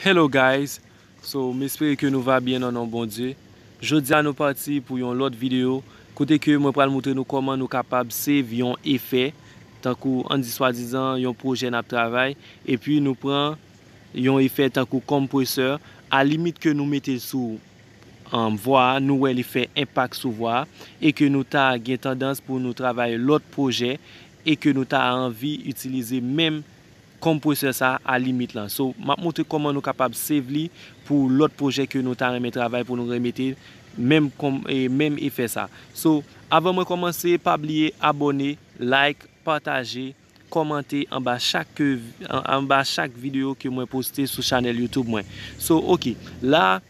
Hello guys so m espere ke nou va byen nan non Bondye jodia nou pati pou yon lòt video kote ke mwen pral moutre nou kòman nou kapab save yon efè tankou an di swadizan yon projè nap travay epi nou pran yon efè tankou kompresè a limit ke nou mete l sou vwa a nou wè li fè enpak sou vwa a e ke nou ta gen tandans pou nou travay lòt projè e ke nou ta anvi itilize menm Compressor sa a limit lan. So map montre koman nou kapab save li pou lot projè ke nou ta renmen travay pou nou remete menm menm efè sa. So avan mwen komanse pa bliye abone, like, pataje, komante anba chak ke anba chak video ke mwen poste sou chanel youtube mwen. So ok la.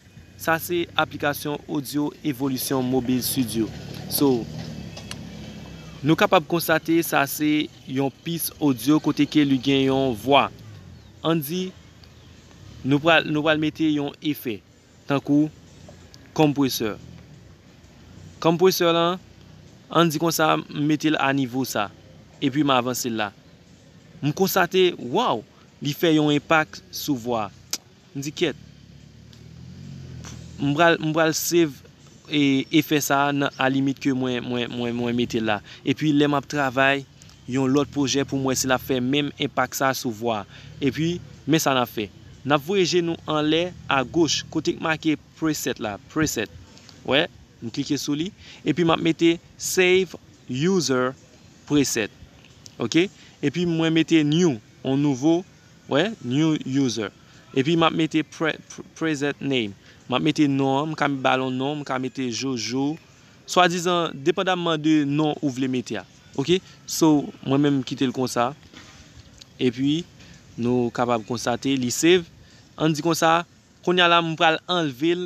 Sa se aplikasyon audio Evolution Mobile Studio. So, nou kapab konstate sa se yon pis audio kote ke li gen yon vwa. Ann di, nou pral, nou pral mete yon efè. Tankou, Compressor. Compressor lan, ann di konsa m mete l a nivo sa. E pi m avanse l la. M konstate, wow! Li fè yon enpak sou vwa. M di kyèt. M pral m pral save efè sa a nan alimit ke mwen mwen mwen mete l la. Epi lè m ap travay yon lòt pwojè pou m wè si l ap fè menm enpak sa a sou vwa a. Epi men sa n ap fè. N ap voye je nou anlè agoch kote k make preset la, preset. Wè? M klike sou li. Epi m ap mete save user preset. Ok? Epi mwen mete new, yon nouvo Wè, new user. Epi map mete present name. Map mete non an, m ka ba l yon non, m ka mete Jojo. Swadizan, depandamman de non ou vle mete a. Ok, so mwen menm m kite l konsa. Epi, nou kapab konstate li save. An di konsa, kounya la m pral anlve l.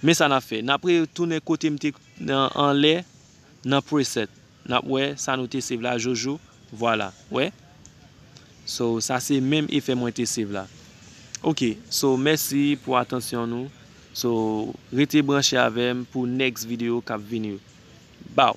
Men sa nap fè. Nap re tounen kote m te anlè nan preset. Nap wè sa nou te save la jojo. Vwala. Wè. So sa se menm efè mwen te save la. Ok. So mèsi pou atansyon nou. So rete branche avèm pou next video kap vini yo. Baw.